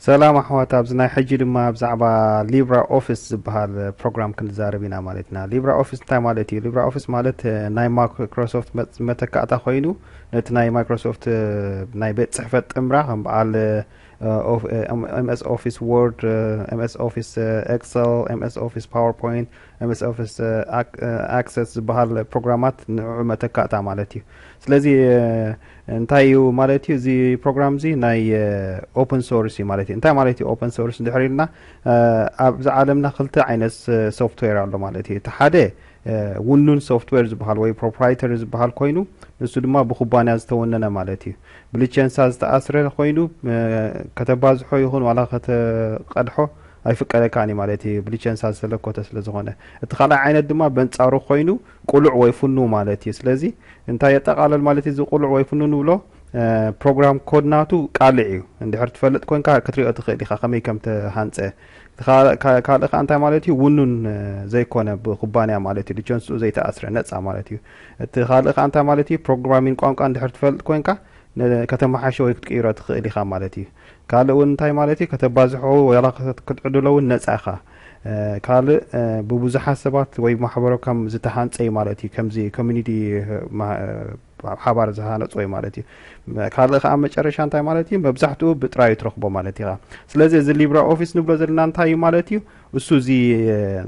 ሰላም ኣሕዋት ኣብዚ ናይ ሕጂ ድማ ብዛዕባ ሊብራ ኦፊስ ዝበሃል ፕሮግራም ክንዛረብ ኢና ማለት ኢና ሊብራ ኦፊስ እንታይ ማለት እዩ ሊብራ ኦፊስ ማለት ናይ ማይክሮሶፍት መተካእታ ኮይኑ ነቲ ናይ ማይክሮሶፍት ናይ ቤት ፅሕፈት ጥምራ ከም በዓል ኤምኤስ ኦፊስ ዎርድ፣ ኤምኤስ ኦፊስ ኤክሰል፣ ኤምኤስ ኦፊስ ፓወርፖይንት፣ ኤምኤስ ኦፊስ ኣክሰስ ዝበሃል ፕሮግራማት ንዕዑ መተካእታ ማለት እዩ። ስለዚ እንታይ እዩ ማለት እዩ እዚ ፕሮግራም እዚ ናይ ኦፕን ሶርስ እዩ ማለት እዩ። እንታይ ማለት እዩ ኦፕን ሶርስ እንድሕር ኢልና ኣብዚ ዓለምና ክልተ ዓይነት ሶፍትዌር ኣሎ ማለት እዩ። እቲ ሓደ ውኑን ሶፍትዌር ዝበሃል ወይ ፕሮፕራይተሪ ዝበሃል ኮይኑ ንሱ ድማ ብኩባንያ ዝተወነነ ማለት እዩ። ብልቸንሳ ዝተኣስረ ኮይኑ ከተባዝሖ ይኹን ዋላ ከተቀድሖ ኣይፍቀደካን እዩ ማለት እዩ ብልቸንሳ ዝተለኮተ ስለ ዝኾነ እቲ ካልኣይ ዓይነት ድማ በንጻሩ ኮይኑ ቁሉዕ ወይ ፍኑ ማለት እዩ ስለዚ እንታይ የጠቃለል ማለት እዚ ቁሉዕ ወይ ፍኑ ንብሎ ፕሮግራም ኮድ ናቱ ቃልዕ እዩ እንድሕር ትፈልጥ ኮንካ ክትሪኦ ትኽእል ኢኻ ከመይ ከም ተሃንጸ ካልእ ከ እንታይ ማለት እዩ ውኑን ዘይኮነ ብኩባንያ ማለት እዩ ልቸንስኡ ዘይተኣስረ ነጻ ማለት እዩ እቲ ካልእ ከኣ እንታይ ማለት እዩ፣ ፕሮግራሚን ቋንቋ እንድሕር ትፈልጥ ኮንካ ከተመሓይሾ ወይ ክትቅይሮ ትኽእል ኢኻ ማለት እዩ። ካልእ እውን እንታይ ማለት እዩ፣ ከተባዝሖ ዋላ ክትዕድሎ እውን ነጻ ኢኻ። ካልእ ብብዙሓት ሰባት ወይ ማሕበረ ኮም ዝተሃንጸ እዩ ማለት እዩ፣ ከምዚ ኮሚኒቲ ኣብ ሓባር ዝሃነጾ እዩ ማለት እዩ። ካልእ ከኣ መጨረሻ እንታይ ማለት እዩ፣ መብዛሕትኡ ብጥራዩ ትረኽቦ ማለት ኢኻ። ስለዚ እዚ ሊብረ ኦፊስ ንብሎ ዘለና እንታይ እዩ ማለት እዩ፣ እሱ እዚ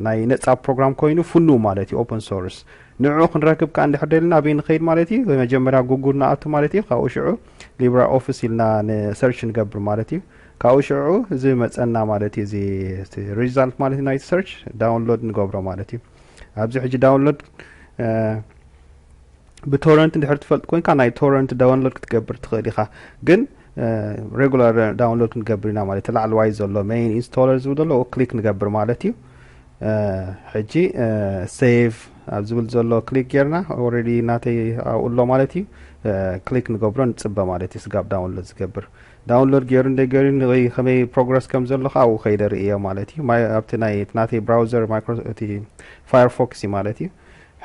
ናይ ነጻ ፕሮግራም ኮይኑ ፍኑው ማለት እዩ፣ ኦፐን ሶርስ። ንዕዑ ክንረክብ ከኣ እንድሕር ደሊና ኣበይ ንኸይድ ማለት እዩ መጀመርያ ጉጉል ንኣቱ ማለት እዩ ካብኡ ሽዑ ሊብራ ኦፊስ ኢልና ንሰርች ንገብር ማለት እዩ ካብኡ ሽዑ እዚ መጸና ማለት እዩ እዚ ሪዛልት ማለት እዩ ናይቲ ሰርች ዳውንሎድ ንገብሮ ማለት እዩ ኣብዚ ሕጂ ዳውንሎድ ብቶረንት እንድሕር ትፈልጥ ኮንካ ናይ ቶረንት ዳውንሎድ ክትገብር ትኽእል ኢኻ ግን ሬጉላር ዳውንሎድ ክንገብር ኢና ማለት እዩ ላዕለዋይ ዘሎ መይን ኢንስቶለር ዝብል ዘሎ ክሊክ ንገብር ማለት እዩ ሕጂ ሴቭ ኣብ ዝብል ዘሎ ክሊክ ጌርና ኦልሬዲ ናተይ ኣብኡ ኣሎ ማለት እዩ ክሊክ ንገብሮ ንፅበ ማለት እዩ ስጋብ ዳውንሎድ ዝገብር ዳውንሎድ ገይሩ እንደ ገይሩ ከመይ ፕሮግረስ ከም ዘሎ ከዓ ኣብኡ ከይደ ርእዮ ማለት እዩ ኣብቲ ናይ ናተይ ብራውዘር እቲ ፋየርፎክስ እዩ ማለት እዩ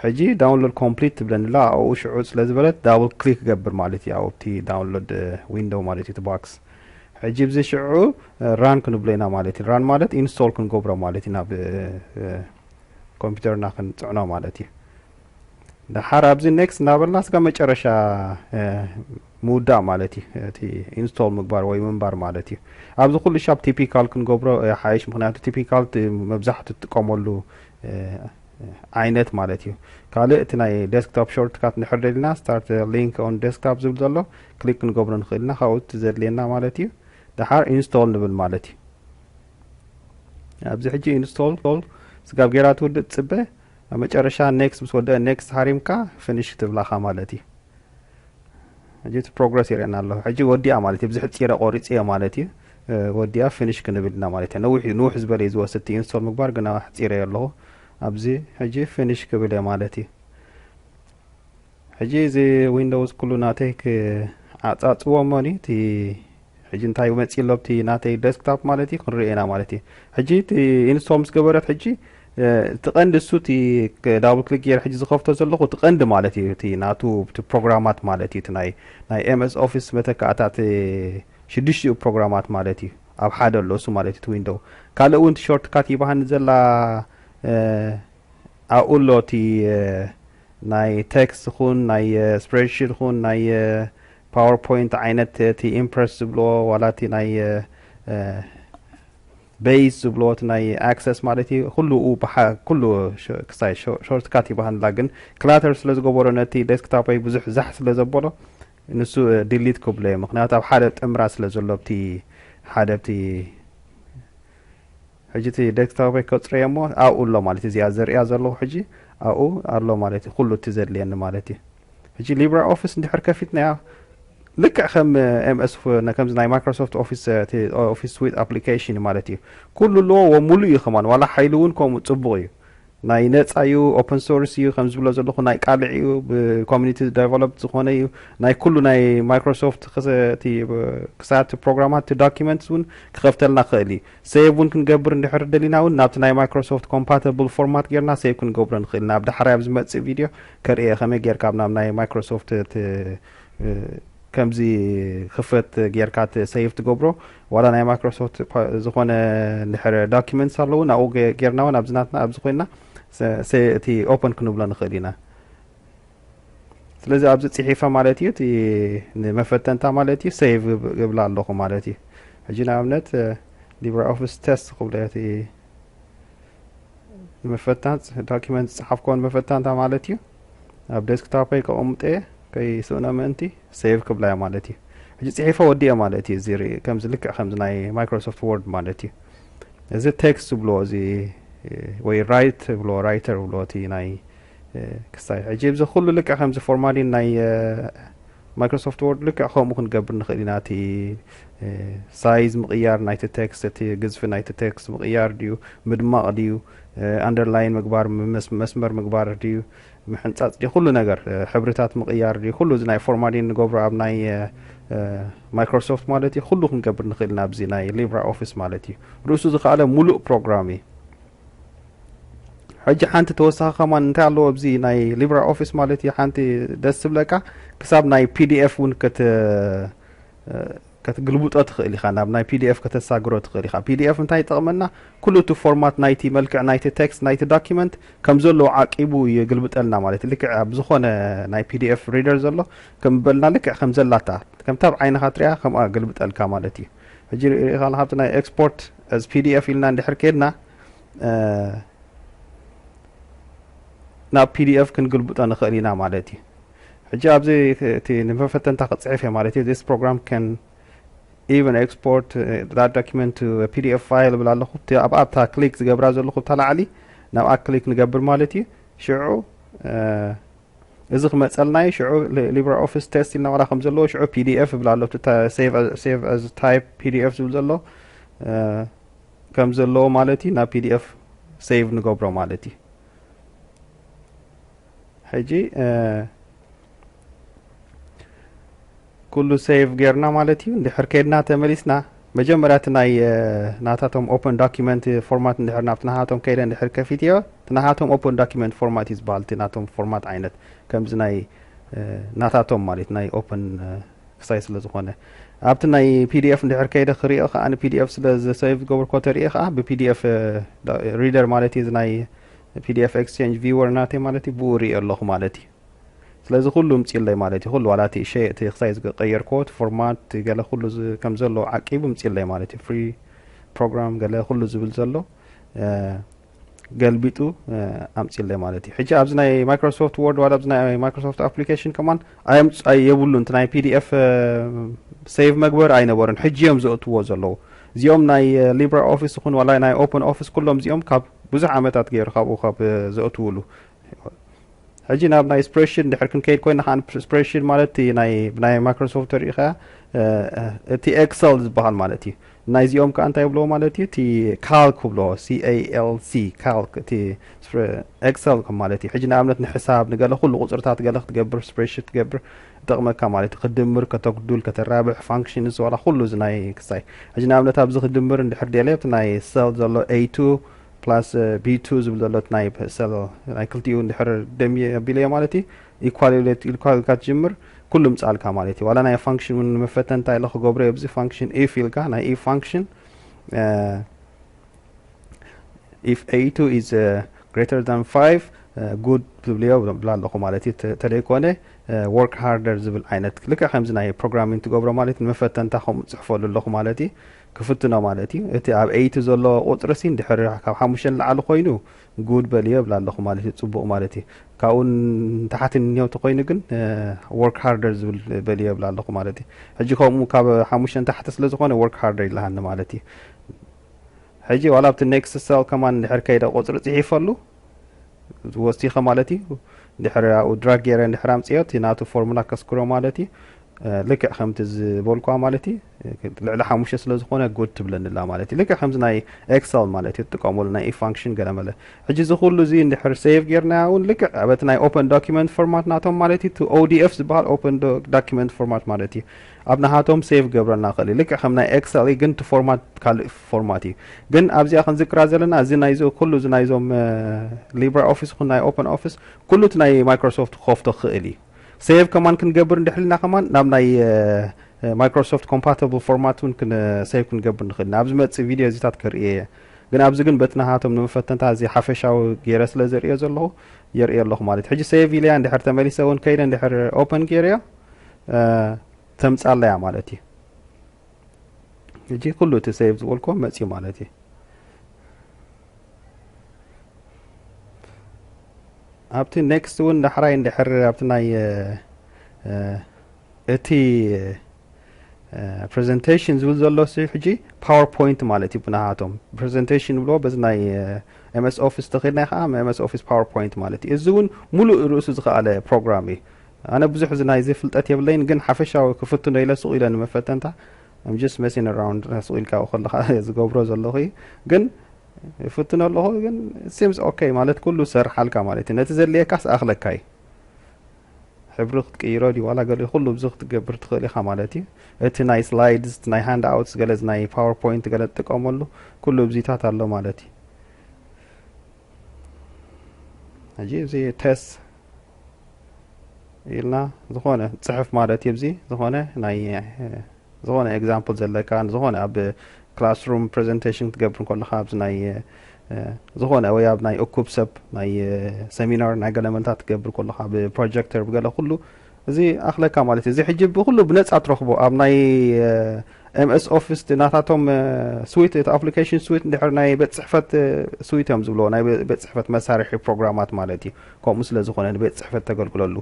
ሕጂ ዳውንሎድ ኮምፕሊት ትብለኒ ኣላ ኣብኡ ሽዑ ስለ ዝበለት ዳብል ክሊክ ገብር ማለት እዩ ኣብቲ ዳውንሎድ ዊንዶው ማለት እዩ እቲ ባክስ ሕጂ ብዚ ሽዑ ራን ክንብሎ ኢና ማለት እዩ ራን ማለት ኢንስቶል ክንገብሮ ማለት እዩ ናብ ኮምፒውተርና ክንፅዕኖ ማለት እዩ ድሓር ኣብዚ ኔክስት እናበልና ስጋ መጨረሻ ምውዳእ ማለት እዩ እቲ ኢንስቶል ምግባር ወይ ምንባር ማለት እዩ ኣብዚ ኩሉ ሻብ ቲፒካል ክንገብሮ ሓይሽ ምክንያቱ ቲፒካል መብዛሕትኡ ትጥቀመሉ ዓይነት ማለት እዩ ካልእ እቲ ናይ ዴስክቶፕ ሾርትካት ንድሕር ደሊና ስታርት ሊንክ ኦን ዴስክቶፕ ዝብል ዘሎ ክሊክ ክንገብሮ ንኽእል ኢና ካብኡ እቲ ዘድልየና ማለት እዩ ድሓር ኢንስቶል ንብል ማለት እዩ ኣብዚ ሕጂ ኢንስቶል ስጋብ ጌራ ትውድእ ትፅበ ኣብ መጨረሻ ኔክስት ምስ ወደአ ኔክስት ሃሪምካ ፍኒሽ ትብላኻ ማለት እዩ ሕጂ እቲ ፕሮግረስ ይርእየና ኣለኹ ሕጂ ወዲኣ ማለት እዩ ብዝሕፂረ ቆሪፅዮ ማለት እዩ ወዲኣ ፍንሽ ክንብል ኢና ማለት እያ ነዊሕ እዩ ንውሕ ዝበለ እዩ ዝወስድ እቲ ኢንስቶል ምግባር ግና ኣሕፂረዮ ኣለኹ ኣብዚ ሕጂ ፍንሽ ክብል እየ ማለት እዩ ሕጂ እዚ ዊንዶውስ ኩሉ ናተይ ክዓፃፅዎ እሞኒ እቲ ሕጂ እንታይ መፂ ኣሎ ብቲ ናተይ ደስክታፕ ማለት እዩ ክንሪኦ ኢና ማለት እዩ ሕጂ እቲ ኢንስቶል ምስ ገበረት ሕጂ እቲ ቀንዲ እሱ እቲ ዳብል ክሊክ ገይረ ሕጂ ዝኸፍቶ ዘለኹ እቲ ቀንዲ ማለት እዩ እቲ ናቱ እቲ ፕሮግራማት ማለት እዩ እቲ ናይ ናይ ኤምኤስ ኦፊስ መተካእታ እቲ ሽዱሽቲኡ ፕሮግራማት ማለት እዩ ኣብ ሓደ ኣሎ እሱ ማለት እቲ ዊንዶው ካልእ እውን እቲ ሾርት ካት ይባሃኒ ዘላ ኣብኡ ኣሎ እቲ ናይ ቴክስት ኹን ናይ ስፕሬድሺት ኹን ናይ ፓወርፖይንት ዓይነት እቲ ኢምፕረስ ዝብልዎ ዋላ እቲ ናይ ቤይስ ዝብልዎ እቲ ናይ ኣክሰስ ማለት እዩ ኩሉ ኩሉ ክሳይ ሾርትካት ይባሃንላ ግን ክላተር ስለ ዝገበሮ ነቲ ዴስክታፖይ ብዙሕ ዛሕ ስለ ዘበሎ ንሱ ዲሊት ክብሎ እየ ምክንያቱ ኣብ ሓደ ጥምራት ስለ ዘሎ ኣብቲ ሓደ ኣብቲ ሕጂ እቲ ዴስክቶፕይ ከጽሮ እየ እሞ ኣብኡ ኣሎ ማለት እዩ እዚኣ ዘርእያ ዘለኹ ሕጂ ኣብኡ ኣሎ ማለት እዩ ኩሉ እቲ ዘድልየኒ ማለት እዩ ሕጂ ሊብራ ኦፊስ እንድሕር ከፊትናያ ልክዕ ከም ኤምኤስ ከምዚ ናይ ማይክሮሶፍት ኦፊስ ኦፊስ ስዊት ኣፕሊኬሽን ማለት እዩ ኩሉ ኣለዎ ሙሉእ እዩ ከማን ዋላ ሓይሉ እውን ከምኡ ፅቡቅ እዩ ናይ ነጻ እዩ ኦፕን ሶርስ እዩ ከም ዝብሎ ዘለኹ ናይ ቃልዕ እዩ ብኮሚኒቲ ደቨሎፕ ዝኾነ እዩ ናይ ኩሉ ናይ ማይክሮሶፍት ክሳት ፕሮግራማት እቲ ዶኪመንትስ እውን ክኸፍተልና ክኽእል እዩ ሴቭ እውን ክንገብር እንድሕር ደሊና እውን ናብቲ ናይ ማይክሮሶፍት ኮምፓተብል ፎርማት ጌርና ሴቭ ክንገብሮ ንኽእል ናብ ዳሕራይ ኣብ ዝመጽእ ቪድዮ ከርእየ ከመይ ጌርካ ናብ ናይ ማይክሮሶፍት ከምዚ ክፍት ጌርካ ሰይፍ ትገብሮ ዋላ ናይ ማይክሮሶፍት ዝኾነ ድሕር ዳኪመንትስ ኣለዉ ናብኡ ጌርና እውን ኣብዚ ናትና ኣብዚ ኮይና እቲ ኦፐን ክንብሎ ንኽእል ኢና ስለዚ ኣብዚ ፅሒፈ ማለት እዩ እቲ ንመፈተንታ ማለት እዩ ሰይቭ እብላ ኣለኹ ማለት እዩ ሕጂ ንኣብነት ሊብራ ኦፊስ ቴስት ክብሎ እቲ ንመፈታን ዶኪመንት ዝፅሓፍኮን መፈታንታ ማለት እዩ ኣብ ዴስክታፐይ ከቐምጦየ ከይስእኖ ምእንቲ ሴቭ ክብላየ ማለት እዩ ሕጂ ጽሒፎ ወዲኤ ማለት እዩ እዚ ከምዚ ልክዕ ከምዚ ናይ ማይክሮሶፍት ወርድ ማለት እዩ እዚ ቴክስት ዝብልዎ እዚ ወይ ራይት ብልዎ ራይተር ብልዎ እቲ ናይ ክሳይ ሕጂ እዚ ኩሉ ልክዕ ከምዚ ፎርማሊን ናይ ማይክሮሶፍት ወርድ ልክዕ ከምኡ ክንገብር ንኽእል ኢና እቲ ሳይዝ ምቕያር ናይቲ ቴክስት እቲ ግዝፊ ናይቲ ቴክስት ምቕያር ድዩ ምድማቕ ድዩ ኣንደርላይን ምግባር መስመር ምግባር ድዩ ምሕንጻጽ ድዩ ኩሉ ነገር ሕብርታት ምቕያር ድዩ ኩሉ እዚ ናይ ፎርማሊን ንገብሮ ኣብ ናይ ማይክሮሶፍት ማለት እዩ ኩሉ ክንገብር ንኽእል ኢና ኣብዚ ናይ ሊብራ ኦፊስ ማለት እዩ ርእሱ ዝኸኣለ ሙሉእ ፕሮግራም እዩ ሕጂ ሓንቲ ተወሳኺ ከማን እንታይ ኣለዎ ኣብዚ ናይ ሊብራ ኦፊስ ማለት እዩ ሓንቲ ደስ ዝብለካ ክሳብ ናይ ፒዲኤፍ እውን ከትግልብጦ ትኽእል ኢኻ፣ ናብ ናይ pdf ከተሳግሮ ትኽእል ኢኻ። pdf እንታይ ይጠቕመና? ኩሉ እቲ ፎርማት ናይቲ መልክዕ ናይቲ ቴክስት ናይቲ ዶክመንት ከም ዘለዎ ዓቂቡ የግልብጠልና ማለት እዩ። ልክዕ ኣብ ዝኾነ ናይ pdf ሪደር ዘሎ ከም በልና ልክዕ ከም ዘላታ ከምታ ኣብ ዓይንኻ ትሪኣ ከምኣ ገልብጠልካ ማለት እዩ። ሕጂ ርኢኻ ኣለኻ ኣብቲ ናይ ኤክስፖርት as pdf ኢልና እንድሕር ከድና ናብ pdf ክንግልብጦ ንኽእል ኢና ማለት እዩ። ሕጂ ኣብዚ እቲ ንመፈተንታ ክጽሕፍ እየ ማለት እዩ this program can even export that document to a pdf file ብል ኣለኹ እቲ ኣብኣ ኣብታ ክሊክ ዝገብራ ዘለኹ እታ ላዕሊ ናብኣ ክሊክ ንገብር ማለት እዩ ሽዑ እዚ ክመፀልና እዩ ሽዑ ሊብራ ኦፊስ ቴስት ኢልና ዋላ ከም ዘለዎ ሽዑ pdf ይብል ኣሎ እቲ ሴቭ ኣዝ ታይፕ pdf ዝብል ዘሎ ከም ዘለዎ ማለት እዩ ናብ pdf ሴቭ ንገብሮ ማለት እዩ ሕጂ ኩሉ ሴቭ ጌርና ማለት እዩ እንድሕር ከድና ተመሊስና መጀመርያ እቲ ናይ ናታቶም ኦፕን ዶኪመንት ፎርማት እንድሕር ናብቲ ናሃቶም ከይደ እንድሕር ከፊት እዮ እቲ ናሃቶም ኦፕን ዶኪመንት ፎርማት እዩ ዝበሃል እቲ ናቶም ፎርማት ዓይነት ከምዚ ናይ ናታቶም ማለት ናይ ኦፕን ክሳይ ስለ ዝኾነ ኣብቲ ናይ ፒዲኤፍ እንድሕር ከይደ ክሪኦ ከዓ ንፒዲኤፍ ስለ ዝሰብ ዝገብርኮ ተሪኦ ከዓ ብፒዲኤፍ ሪደር ማለት እዩ ናይ ፒዲኤፍ ኤክስቼንጅ ቪወር ናተይ ማለት እዩ ብኡ ሪኤዮ ኣለኹ ማለት እዩ ስለዚ ኩሉ ምፅለይ ማለት እዩ ኩሉ ዋላ እቲ ሸ እቲ ክሳይ ዝቀየርክዎ እቲ ፎርማት ገለ ኩሉ ከም ዘሎ ዓቂቡ ምፅለይ ማለት እዩ ፍሪ ፕሮግራም ገለ ኩሉ ዝብል ዘሎ ገልቢጡ ኣምፅለይ ማለት እዩ ሕጂ ኣብዚ ናይ ማይክሮሶፍት ወርድ ዋላ ኣብዚ ናይ ማይክሮሶፍት ኣፕሊኬሽን ከማን የብሉን እቲ ናይ ፒዲኤፍ ሴቭ መግበሪ ኣይነበሩን ሕጂ እዮም ዘእትዎ ዘለዉ እዚኦም ናይ ሊብራ ኦፊስ ይኹን ዋላ ናይ ኦፕን ኦፊስ ኩሎም እዚኦም ካብ ብዙሕ ዓመታት ገይሩ ካብኡ ካብ ዘእትውሉ ሕጂ ናብ ናይ ስፕሬሽን ድሕር ክንከይድ ኮይና ከዓ ስፕሬሽን ማለት ናይ ማይክሮሶፍት ሪኢኸያ እቲ ኤክሰል ዝበሃል ማለት እዩ ናይዚኦም ከዓ እንታይ ብለዎ ማለት እዩ እቲ ካልክ ብለዎ ሲኤልሲ ካልክ እቲ ኤክሰል ማለት እዩ ሕጂ ንኣብነት ንሕሳብ ንገለ ኩሉ ቁፅርታት ገለ ክትገብር ስፕሬሽን ክትገብር ይጠቅመካ ማለት ዩ ክትድምር ከተጉዱል ከተራብሕ ፋንክሽን እዚ ዋላ ኩሉ እዚ ናይ ክሳይ ሕጂ ንኣብነት ኣብዚ ክድምር እንድሕር ደልየ እቲ ናይ ሰል ዘሎ A2 plus B2 ዝብል ዘሎ እቲ ናይ ሰል ናይ ክልቲኡ እንድሕር ደምየ ኣቢለዮ ማለት እዩ ኢኳሌት ኢልካ ኢልካ ትጅምር ኩሉ ምጻልካ ማለት እዩ ዋላ ናይ ፋንክሽን ውን መፈተንታ ኢለ ክገብሮ ኣብዚ ፋንክሽን ኢፍ ኢልካ ናይ ኢፍ ፋንክሽን ኢፍ ኤይቱ ኢዝ ግሬተር ዛን ፋይቭ ጉድ ትብልዮ ብላ ኣለኹ ማለት እዩ ተደይኮነ ወርክ ሃርደር ዝብል ዓይነት ልክዕ ከምዚ ናይ ፕሮግራሚን ትገብሮ ማለት እዩ ንመፈተንታ ከም ፅሕፈሉ ኣለኹ ማለት እዩ ክፍትኖ ማለት እዩ እቲ ኣብ ኤይቱ ዘሎ ቁፅሪ ሲን ድሕሪ ካብ ሓሙሽተ ንላዕሊ ኮይኑ ጉድ በልዮ ብላ ኣለኹ ማለት እዩ ፅቡቕ ማለት እዩ ካብኡ ንታሕቲ ንኔውቲ ኮይኑ ግን ወርክ ሃርደር ዝብል በልዮ ብላ ኣለኹ ማለት እዩ ሕጂ ከምኡ ካብ ሓሙሽተ ንታሕቲ ስለ ዝኾነ ወርክ ሃርደር ይልሃኒ ማለት እዩ ሕጂ ዋላ ኣብቲ ኔክስት ሰል ከማን ድሕር ከይደ ቁፅሪ ፅሒፈሉ ወሲኸ ማለት እዩ ድሕር ኣብኡ ድራግ ገይረ ድሕር ኣምፅኦ እቲ ናቱ ፎርሙላ ከስክሮ ማለት እዩ ልክዕ ከምቲ ዝበልኳ ማለት እዩ ልዕሊ ሓሙሽተ ስለ ዝኾነ ጉድ ትብለኒላ ማለት እዩ ልክዕ ከምዚ ናይ ኤክሰል ማለት እዩ ትጥቀመሉ ናይ ኢፋንክሽን ገለ መለ ሕጂ እዚ ኩሉ እዚ እንድሕር ሴቭ ጌርናያ እውን ልክዕ ኣበቲ ናይ ኦፐን ዶኪመንት ፎርማት ናቶም ማለት እዩ ኦዲኤፍ ዝበሃል ኦፐን ዶኪመንት ፎርማት ማለት እዩ ኣብ ናሃቶም ሴቭ ክገብረልና ይክእል እዩ ልክዕ ከም ናይ ኤክሰል እዩ ግን እቲ ፎርማት ካልእ ፎርማት እዩ ግን ኣብዚኣ ክንዝክራ ዘለና እዚ ናይዚ ኩሉ እዚ ናይዞም ሊብራ ኦፊስ ይኹን ናይ ኦፕን ኦፊስ ኩሉ እቲ ናይ ማይክሮሶፍት ክኸፍቶ ክኽእል እዩ ሴቭ ከማን ክንገብር እንድሕልና ከማን ናብ ናይ ማይክሮሶፍት ኮምፓታብል ፎርማት እውን ሴቭ ክንገብር ንኽእል ኢና ኣብ ዝመፅእ ቪድዮ እዚታት ከርእየ እየ ግን ኣብዚ ግን በቲ ናሃቶም ንመፈተንታ እዚ ሓፈሻዊ ገይረ ስለ ዘርእዮ ዘለኹ የርእየ ኣለኹ ማለት ሕጂ ሴቭ ኢለያ እንድሕር ተመሊሰ እውን ከይደ እንድሕር ኦፐን ገይረዮ ተምጻለያ ማለት እዩ እጂ ኩሉ እቲ ሰይብ ዝበልኮ መፅዩ ማለት እዩ ኣብቲ ኔክስት እውን ዳሕራይ እንድሕር ኣብቲ ናይ እቲ ፕሬዘንቴሽን ዝብል ዘሎ ሕጂ ፓወር ፖይንት ማለት እዩ ብናሃቶም ፕሬዘንቴሽን ብሎ በዚ ናይ ኤምኤስ ኦፊስ ተኸድና ከዓ ኤምኤስ ኦፊስ ፓወር ፖይንት ማለት እዩ እዚ እውን ሙሉእ ርእሱ ዝኸኣለ ፕሮግራም እዩ ኣነ ብዙሕ እዚ ናይዚ ፍልጠት የብለይን ግን ሓፈሻዊ ክፍትኖ ኢለ ሱቕ ኢለ ንመፈተንታ I'm just messing around ሱቕ ኢልካ ኣብኡ ከለኻ ዝገብሮ ዘለኹ እዩ ግን ይፍትኖ ኣለኹ ግን it seems okay ማለት ኩሉ ዝሰርሓልካ ማለት እዩ ነቲ ዘድልየካስ ኣኽለካ እዩ ሕብሪ ክትቅይሮ ድዩ ዋላ ገለ ኩሉ ብዚ ክትገብር ትኽእል ኢኻ ማለት እዩ እቲ ናይ ስላይድስ እቲ ናይ ሃንድ ኣውትስ ገለ ናይ ፓወርፖይንት ገለ ትጥቀመሉ ኩሉ ብዚታት ኣሎ ማለት እዩ ሕጂ እዚ ቴስት ኢልና ዝኾነ ፅሕፍ ማለት እዩ ዚ ዝኾነ ናይ ዝኾነ ኤግዛምፕል ዘለካ ዝኾነ ኣብ ክላስሩም ፕሬዘንቴሽን ክትገብር ከለካ ኣብዚ ናይ ዝኾነ ወይ ኣብ ናይ እኩብ ሰብ ናይ ሰሚናር ናይ ገለ መንታት ትገብር ከለካ ብፕሮጀክተር ብገለ ኩሉ እዚ ኣኽለካ ማለት እዩ እዚ ሕጂ ብኩሉ ብነፃ ትረኽቦ ኣብ ናይ ኤምኤስ ኦፊስ ናታቶም ስዊት እቲ ኣፕሊኬሽን ስዊት እንድሕር ናይ ቤት ፅሕፈት ስዊት እዮም ዝብልዎ ናይ ቤት ፅሕፈት መሳርሒ ፕሮግራማት ማለት እዩ ከምኡ ስለ ዝኾነ ንቤት ጽሕፈት ተገልግለሉ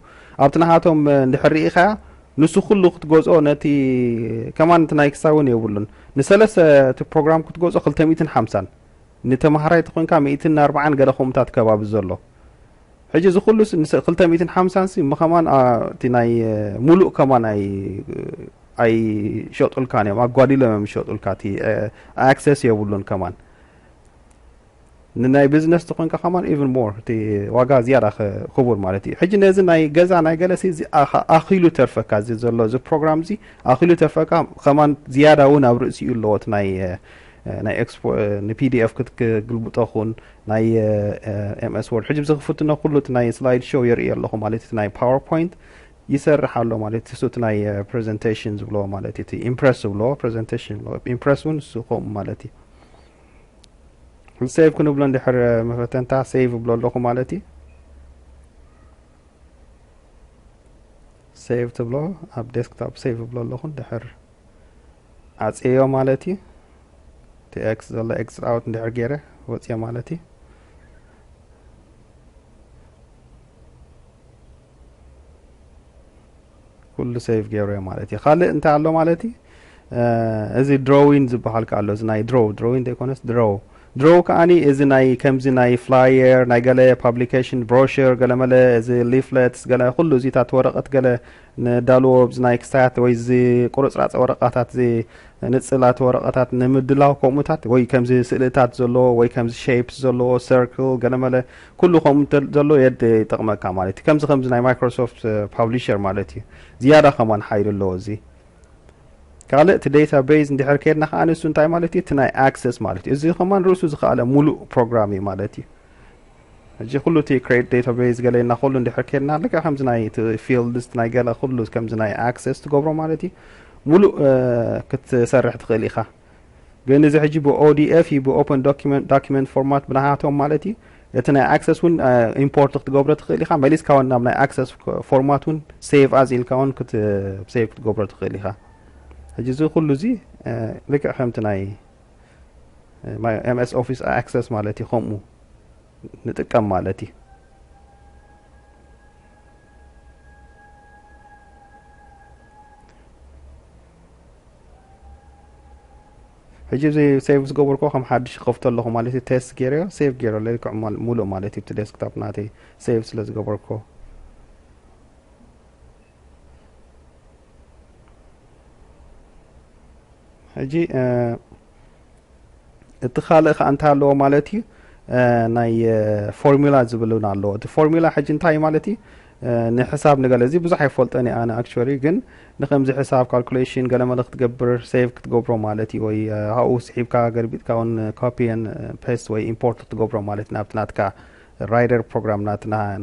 ኣብቲ ናሃቶም እንድሕር ርኢኻያ ንሱ ኩሉ ክትገዝኦ ነቲ ከማን እቲ ናይ ክሳብ እውን የብሉን ንሰለስተ እቲ ፕሮግራም ክትገዝኦ ክልተ ሚእትን ሓምሳን ንተማሃራይ ተኾንካ ሚእትን ኣርባዓን ገለ ከምኡታት ከባቢ ዘሎ ሕጂ እዚ ኩሉ ክልተ ሚእትን ሓምሳን ሲ ምኸማን እቲ ናይ ሙሉእ ከማን ኣይ ኣይሸጡልካን እዮም ኣጓዲሎም እዮም ዝሸጡልካ እቲ ኣክሰስ የብሉን ከማን ንናይ ቢዝነስ ተኾንካ ከማን ኢቭን ሞር እቲ ዋጋ ዝያዳ ክቡር ማለት እዩ ሕጂ ነዚ ናይ ገዛ ናይ ገለሲ እዚ ኣኺሉ ተርፈካ እዚ ዘሎ እዚ ፕሮግራም እዚ ኣኺሉ ተርፈካ ከማን ዝያዳ እውን ኣብ ርእሲኡ ኣለዎ እቲ ናይ ናይ ኤክስፖ ንፒዲኤፍ ክትግልብጦ ኹን ናይ ኤምኤስ ወርድ ሕጂ ዝክፍትኖ ኩሉ እቲ ናይ ስላይድ ሾው የርኢ ኣለኹ ማለት እቲ ናይ ፓወርፖይንት ይሰርሕ ኣሎ ማለት እሱ እቲ ናይ ፕሬዘንቴሽን ዝብለዎ ማለት እቲ ኢምፕረስ ዝብለዎ ፕሬዘንቴሽን ኢምፕረስ እውን ንሱ ከምኡ ማለት እዩ ሴቭ ክንብሎ እንድሕር መፈተንታ ሴቭ እብሎ ኣለኹ ማለት እዩ ሴቭ ትብሎ ኣብ ዴስክቶፕ ሴቭ እብሎ ኣለኹ እንድሕር ዓፅዮ ማለት እዩ እቲ ኤክስ ዘሎ ኤክስ ኣውት እንድሕር ገይረ ወፅዮ ማለት እዩ ኩሉ ሰይቭ ገይሩ እየ ማለት እዩ ካልእ እንታይ ኣሎ ማለት እዩ እዚ ድሮዊን ዝበሃል ከ ኣሎ እዚ ናይ ድሮ ድሮዊን ዘይኮነስ ድሮ ድሮ ከዓኒ እዚ ናይ ከምዚ ናይ ፍላየር ናይ ገለ ፓብሊኬሽን ብሮሽር ገለመለ እዚ ሊፍለትስ ገለ ኩሉ እዚታት ወረቐት ገለ ንዳልዎ ብዚ ናይ ክስታያት ወይ እዚ ቁርፅራፅ ወረቃታት እዚ ንፅላት ወረቐታት ንምድላው ከምኡታት ወይ ከምዚ ስእልታት ዘለዎ ወይ ከምዚ ሸፕስ ዘለዎ ሰርክል ገለመለ ኩሉ ከምኡ ተል ዘሎ የድ ይጠቕመካ ማለት እዩ ከምዚ ከምዚ ናይ ማይክሮሶፍት ፓብሊሸር ማለት እዩ ዝያዳ ከማን ሓይሊ ኣለዎ እዚ ካልእ እቲ ዴታ ቤዝ እንድሕር ከድና ከዓ ንሱ እንታይ ማለት እዩ እቲ ናይ ኣክሰስ ማለት እዩ እዚ ከማን ርእሱ ዝኸኣለ ሙሉእ ፕሮግራም እዩ ማለት እዩ ሕጂ ኩሉ እቲ ክሬት ዴታ ቤዝ ገለ እና ኩሉ እንድሕር ከድና ልክዕ ከምዚ ናይ ፊልድስ ናይ ገለ ኩሉ ከምዚ ናይ ኣክሰስ ትገብሮ ማለት እዩ ሙሉእ ክትሰርሕ ትኽእል ኢኻ ግን እዚ ሕጂ ብኦዲኤፍ እዩ ብኦፐን ዶኪመንት ፎርማት ብናሃቶም ማለት እዩ እቲ ናይ ኣክሰስ እውን ኢምፖርት ክትገብሮ ትኽእል ኢኻ መሊስካ ውን ናብ ናይ ኣክሰስ ፎርማት እውን ሴቭ ኣዝ ኢልካ ውን ሴቭ ክትገብሮ ትኽእል ኢኻ ሕጂ እዚ ኩሉ እዚ ልክዕ ከምቲ ናይ ኤምኤስ ኦፊስ ኣክሰስ ማለት እዩ ከምኡ ንጥቀም ማለት እዩ ሕጂ እዚ ሴቭ ዝገበርኮ ከም ሓድሽ ይኸፍቶ ኣለኹ ማለት እዩ ቴስት ገይረዮ ሴቭ ገይሮ ልክዕ ሙሉእ ማለት እዩ እቲ ዴስክቶፕ ናተይ ሴቭ ስለ ዝገበርኮ ሕጂ እቲ ካልእ ከዓ እንታይ ኣለዎ ማለት እዩ ናይ ፎርሙላ ዝብል እውን ኣለዎ እቲ ፎርሙላ ሕጂ እንታይ ማለት እዩ ንሕሳብ ንገለ እዚ ብዙሕ ኣይፈልጦን እየ ኣነ ኣክቹዋሊ ግን ንከምዚ ሕሳብ ካልኩሌሽን ገለ መለ ክትገብር ሴቭ ክትገብሮ ማለት እዩ ወይ ኣብኡ ስሒብካ ገርቢጥካ እውን ኮፒን ፔስት ወይ ኢምፖርት ክትገብሮ ማለት ናብቲ ናትካ ራይደር ፕሮግራም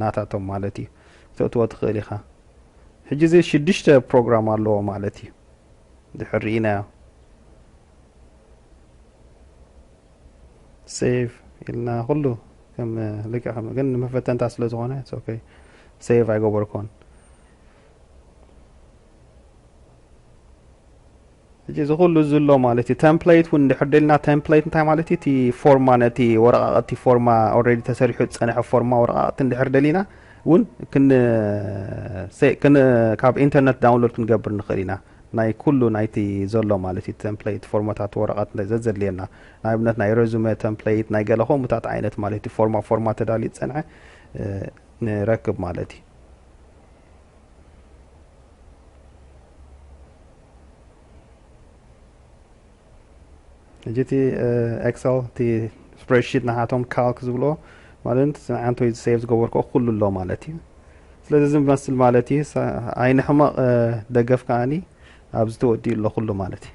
ናታቶም ማለት እዩ ክተእትዎ ትኽእል ኢኻ ሕጂ እዚ ሽዱሽተ ፕሮግራም ኣለዎ ማለት እዩ ድሕር ርኢናዮ ሴቭ ኢልና ኩሉ ከም ልክዕ ከም ግን ንመፈተንታ ስለ ዝኾነ ኦኬ ሴቭ ኣይገበርኩን እዚ እዚ ኩሉ ዝሎ ማለት እዩ ተምፕሌት እውን እንድሕር ደልና ተምፕሌት እንታይ ማለት እዩ እቲ ፎርማ ነቲ ወረቃቅቲ ፎርማ ኦልሬዲ ተሰሪሑ ዝፀንሐ ፎርማ ወረቃቅቲ እንድሕር ደሊና እውን ካብ ኢንተርነት ዳውንሎድ ክንገብር ንኽእል ኢና ናይ ኩሉ ናይቲ ዘሎ ማለት እዩ ተምፕለይት ፎርሞታት ወረቐት ዘዘድልየና ንኣብነት ናይ ረዙመ ተምፕለይት ናይ ገለ ከምኡታት ዓይነት ማለት እዩ ፎርማ ፎርማ ተዳልዩ ዝጸንሐ ንረክብ ማለት እዩ ሕጂ እቲ ኤክሰል እቲ ስፕሬድሺት ንዓቶም ካልክ ዝብልዎ ማለት እቲ ንዓንቶይ ሴቭ ዝገበርክኦ ኩሉ ኣሎ ማለት እዩ ስለዚ እዚ ዝመስል ማለት እዩ ዓይኒ ሕመቕ ደገፍ ከዓኒ ኣብዚ ተወዲኡ ኣሎ ኩሉ ማለት እዩ